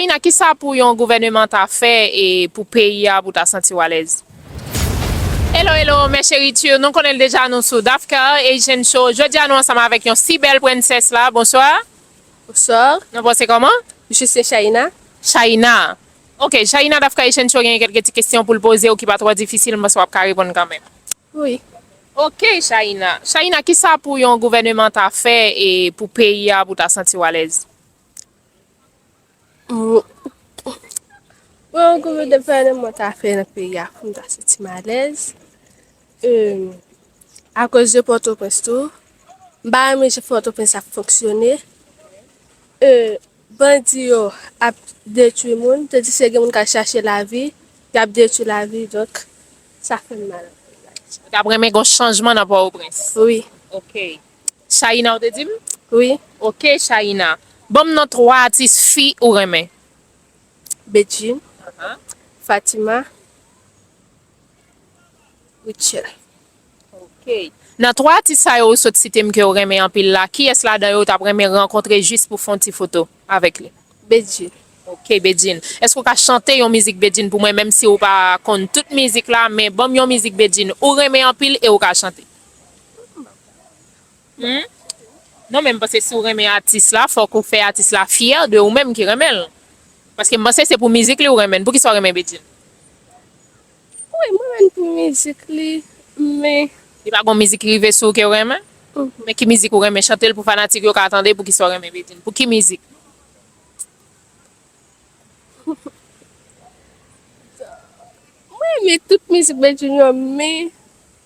Ina kisa pou yon gouvèneman ta fè e pou peyi a pou ta santiw alèz. Hello hello mes cheritures nou konnen l deja nou sou Dafcar Haitian show jodia nou ansanm avek yon si bel princess la bonsoir. Bonsoir. Nou pase koman? Je se Shaïna. Shaïna ok Shaïna Dafcar Haitian show genyen kelke ti kesyon poul pozew ki pa tro difisil m panse wap ka reponn kanmenm. Wi. Ok Shaïna Shaïna kisa pou yon gouvèneman ta fè e pou peyi a pou ta santiw alèz. Mwen an goumen de pale mwen ta fè nan peyi a pou m ta soti malèz. A koz de pòtoprens tou. M pa renmen jan pòtoprens ap fonksyone. Bandi yo ap detwi moun. Tandiske gen moun k al chache lavi. Y ap detwi lavi. Donk sa fè m mal anpil. Ou ta renmen gen yon chanjman nan pòtoprens? Wi. Ok. Shaïna ou te dim? Wi. Ok Shaïna, banm non 3 atis fi ou renmen. Bedjine. Aha. Fatima. Rutshelle. Ok. Nan 3 atis sa yo ou sot sitem ke ou renmen anpil la, kiyès ladan yo ou tap renmen rankontre jis pou fon ti foto? Avèk li. Bedjine. Ok Bedjine. Èske ou ka chante yon mizik Bedjine pou mwen menm si ou pa konn tout mizik la men banm yon mizik Bedjine ou renmen anpil e ou ka chante. Mwen pa konn anpil chante. Humm. Non men mpanse si ou renmen atis la fòk ou fè atis la fyè de ou menm ki renmenl. Paske mpanse se pou mizik li ou renmenn. Poukisa ou renmen Bedjine? Wi mwen renmn pou mizik li men. Li pa gon mizik ki rive sou ou kew renmen? Men ki mizik ou renmen chantel pou fanatik yo ka tande poukisa ou renmen Bedjine pou ki mizik? Mwen renmen tout mizik Bedjine yo men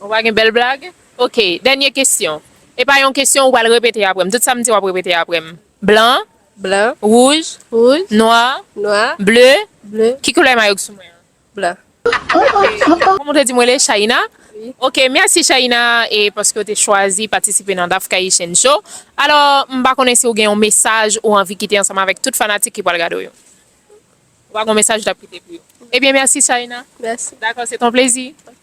Ou pa gen bèl blag? Ok, dènye kesyon. E pa yon kesyon ou pral repete apre m. Tout sa m di w ap repete apre m. Blan, wouj, nwa, ble, ki koulè mayo k sou mwen an? Kòm ou te di mwen rele Shaïna? Wi. Ok, mèsi Shaïna e paske ou te chwazi patisipe nan Dafkayichyen Show. Alò, m pa konnen si ou gen yon mesaj ou anvi kite ansanm avèk tout fanatik ki pral gade w yo. Ou pa gen yon mesaj ou t ap kite pou yo? Ebyen mèsi Shaïna. Mèsi. Dakò, se t on plezi. Ok.